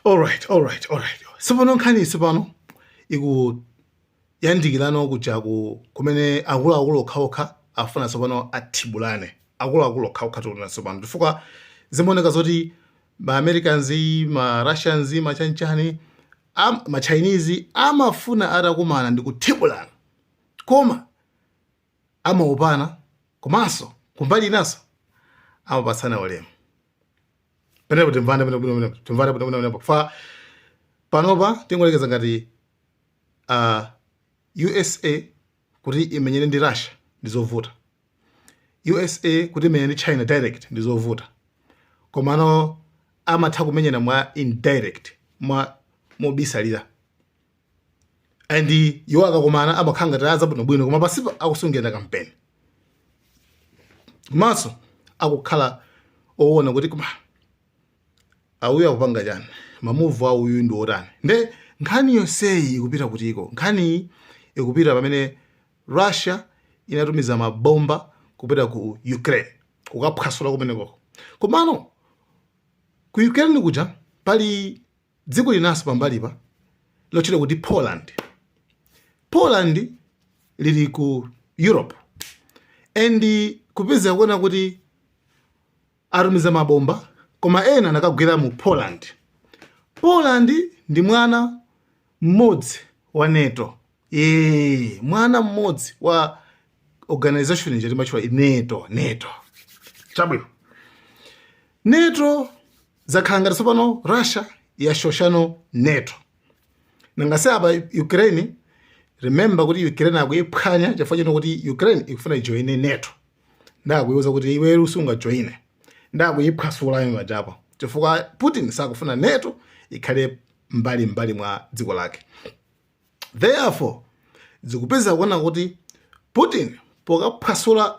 alright alright alright tsopano nkhani tsopano ikuyandikirano kuja kumene akuluakulu okhaokha afuna tsopano athibulane akuluakulu okhaokha tiona tsopano chifukwa zimaoneka zoti ma americans ma russians machanchani am, ma chinese amafuna atakumana ndi kuthibulana koma amaopana komanso kumbali inanso amapatsana ulemu penepo timvane timvane penepo chifukwa panopa tingoyerekeza ngati uh, usa kuti imenyane ndi russia ndi zovuta usa kuti imenyane ndi china direct ndi zovuta komano amatha kumenyana mwa indirect mwamobisalira and iwo akakumana amakhala ngati anzawo bwinobwino koma pansipa akusungirana kampeni komanso akukhala owona kuti koma awuyu akupanga chani mamuvu awuyu ndi otani nde nkhani yonseyi ikupita kutiko nkhaniyi ikupita pamene russia inatumiza mabomba kupita ku ukraine kukaphwasula kumeneko komano ku ukraine kuja pali Dziko linanso pambalipa lotchedwa kuti Poland. Poland lili ku Europe and kupeza kuona kuti atumiza mabomba koma ena anakagwera mu Poland. Poland ndi mwana mmodzi wa NATO. Ee, mwana mmodzi wa organization ija timatchula NATO, NATO. Chabwino. NATO zakhala ngati tsopano russia yashosha no nato nanga si apa ukraine remember kuti ukraine akuyiphwanya chifukwa choti ukraine ikufuna ijoine nato nde akuyiuza kuti iwe sungajoine nde akuyiphwasula pajapo chifukwa putin sakufuna nato ikhale mbali mbali mwa dziko lake therefore zikupeza kuona kuti putin pokaphwasula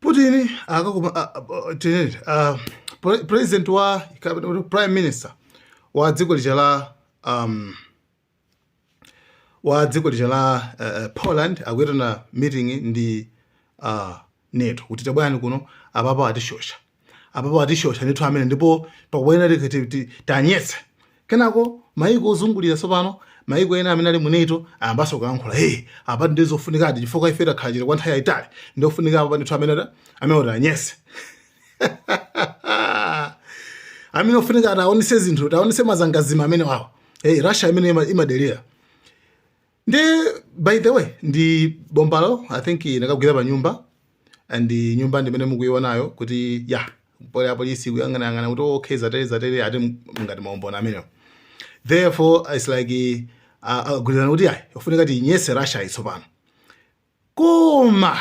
Putin akakuma a- a- tinene, a- pre- president wa kapena kuti prime minister wa dziko lija la um, wa dziko lija la uh, uh, Poland akuyitana meeting ndi uh, NATO kuti tabwerani kuno apapa atishosha apapo atishosha ndithu amene ndipo pakubwera taanyetse kenako maiko ozungulira tsopano maiko ena amene ali mu NATO ayambanso kuyankhula hey apa ndi zofunikadi chifukwa ife takhala chete kwa nthawi yayitali ndi ofunika apa ndithu amene ta- amene kuti anyese amene ofunika ataonese zinthu ataonese mazangazime amenewawo hey Russia imene ima- imadelera ndi by the way ndi bombalo i think inakagwira pa nyumba and nyumba ndi imene mukuionayo kuti yaa pali apolisi kuyang'anayang'ana kuti okay zatere zatere ati ngati maumboni ameneyo therefore it's like agwirizana kuti ayi ofunika tiyinyese russia tsopano koma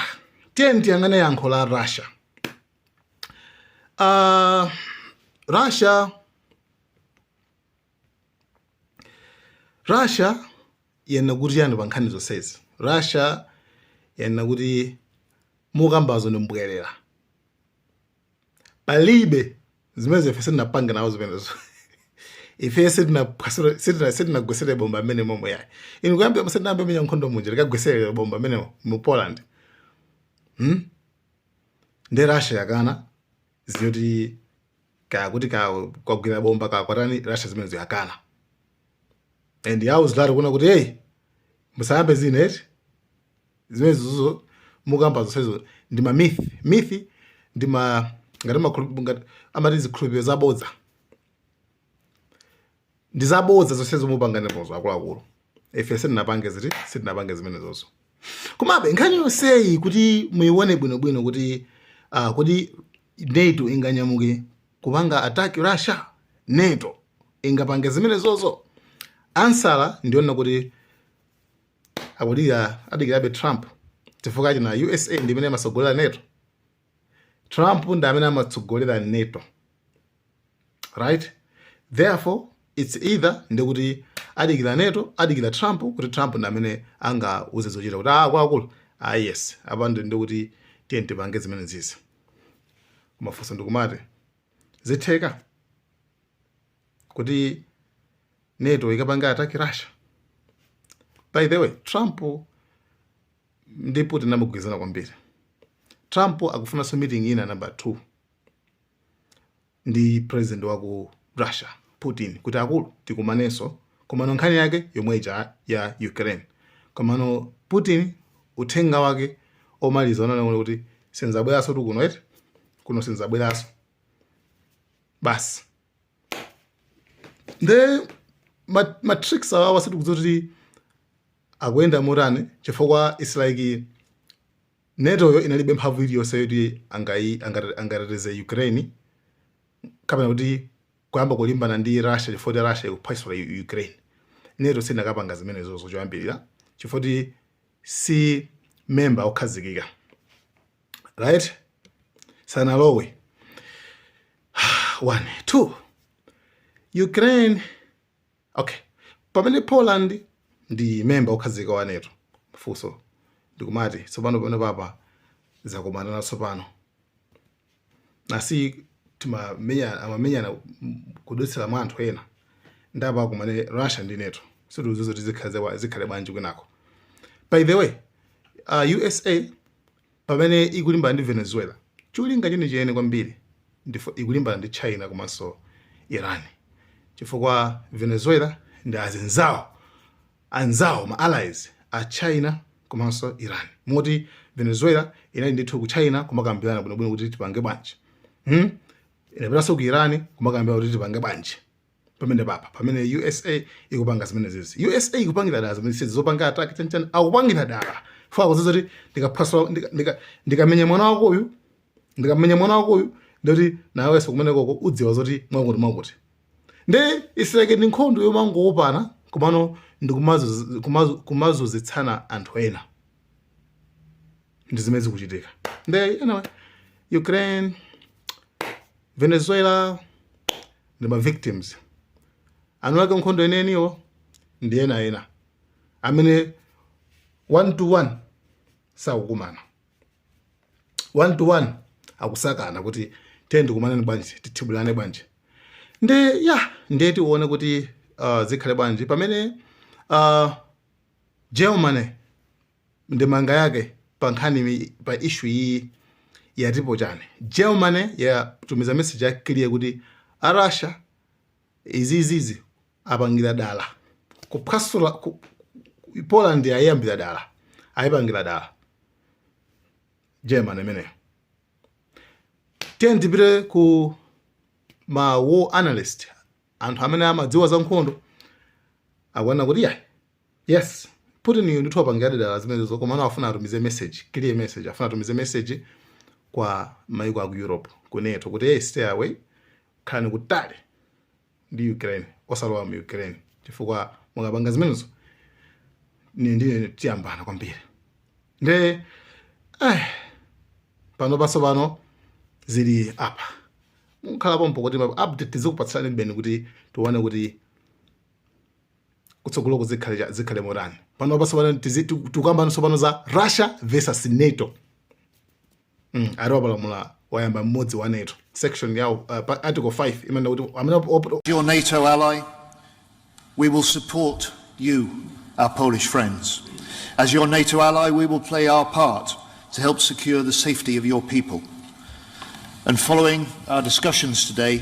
tiyeni tiyang'ane yankho la russia uh, russia Russia yanena kuti chani pa nkhani zonsezi? Russia yanena kuti mukambazo ndi mbwerera, palibe zimenezo ife sitinapange nawo zimenezo ife sitinagwesere bomba m'menemo mwa yayi inu kuyambira tisanayambe menya nkhondo munja tikagwesere bomba amene mu Poland hmm? nde Russia yakana zoti kaya kuti kaya kwagwera bomba kaya kwatani russia zimenezo yakana and yauziratu kunena kuti hey musayambe zina eti zimenezozo mukamba zonsezo ndi ma myth myth ndi ma ngati makulu- ngati amati zikhulupiriro zabodza ndi zabodza zonse zomwe mupanganizo akuluakulu ife sitinapange ziti sitinapange zimenezozo komabe nkhani yonseyi kuti muyione bwinobwino kuti uh, kuti nato inganyamuke kupanga attack russia nato ingapange zimenezozo ansala ndi yonena kuti akudikira adikirabe trump chifukwa chani usa ndi imene imatsogolera nato trump ndi amene amatsogolera nato right therefore its either ndekuti adikira nato adikira trump kuti trump ndi amene angauze zochita kuti ah akuluakulu ah yes apa ndi ndikuti tiyeni tipange zimene zizi kumafunsa ndikumati zitheka kuti nato ikapanga ataki russia by the way trump ndi putin amagwirizana kwambiri trump akufunanso meeting ina number two ndi president wa ku Russia Putin kuti akulu tikumanenso komano nkhani yake yomwe ija ya Ukraine komano Putin uthenga wake omaliza ananena kuti sinzabweranso tu kuno eti kuno sinzabweranso basi nde ma- matrix awawa sitikudziwa kuti akuyenda motani chifukwa its like Nato yo inalibe mphamvu iliyonse yoti angai, angate, angateteze Ukraine kapena kuti kuyamba kulimbana ndi Russia chifukwa choti Russia ikuphwasula U- Ukraine. Nato siinakapanga zimenezozo choyambirira chifukwa choti si member okhazikika. Right? Sanalowe. One, two. Ukraine Ok pamene Poland ndi member wokhazikika wa nato funso ndikumati tsopano pamene papa zakomana tsopano nasi timamenya amamenyana kudutsira mwa anthu ena ndiye apa akumane Russia ndi nato sitidziwa kuti zikhale bwanji kwinako by the way uh, USA Pamene ikulimbana ndi Venezuela, cholinga chenicheni kwambiri ndiye ikulimbana ndi China komanso Iran chifukwa Venezuela ndi azinzawo, anzawo, ma allies a China komanso Iran moti Venezuela inali ndithu ku China kumakambirana bwinobwino kuti tipange bwanji, hmm, inapitanso ku Iran kumakambirana kuti tipange bwanji. pamene apa pamene usa ikupanga zimenezizi usa ikupangira dala zimenezizi zopanga attack chanichani akupangira dala afuna kudziwa kuti ndikaphwasula ndika- ndika- ndikamenya mwana wako uyu ndikamenya mwana wako uyu ndikuti nawenso kumenekoko udziwa zoti mwakuti mwakuti nde isireke ndi nkhondo yomangoopana komano ndi kumazu- kumazu- kumazunzitsana anthu ena ndi zimene zikuchitika nde anyway ukraine venezuela ndi ma victims eniake nkhondo enieniwo ndi ena ena amene one to one sakukumana one to one akusakasaka kuti tiyeni tikumane bwanji tithibulane bwanji nde ya ndiye tione kuti uh, zikhale bwanji pamene uh, germany ndemanga yake pa nkhani pa issue iyi yatipo chani Germany yatumiza message ya clear kuti a Russia izizizi apangira dala kuphwasula ku, Poland aiyambira dala aipangira dala Germany imeneyo tiyeni tipite ku ma war analyst anthu amene amadziwa za nkhondo akuona kuti ayi Yes, Putin uyu ndithu wapangira dala zimenezo komano afuna atumize message, clear message. Afuna atumize message kwa maiko a ku Europe, ku NATO kuti hey, stay away, khalani kutali ndi Ukraine, osalowa mu Ukraine chifukwa mukapanga zimenezo ni ndiye tiyambana kwambiri. Nde eh panopa so pano zili apa. Mukhale pompo kuti update tizikupatsanibe kuti tione kuti kutsogoloku zikhale cha- zikhale motani panopa so pano tizi- tiku- tikukamba tsopano za russia versus nato Mm, ati wapalamula wayamba mmodzi wa nato section yawo uh, pa- article 5 imanena kuti amene op- op- Your NATO ally, we will support you, our Polish friends. As your NATO ally, we will play our part to help secure the safety of your people. And following our discussions today,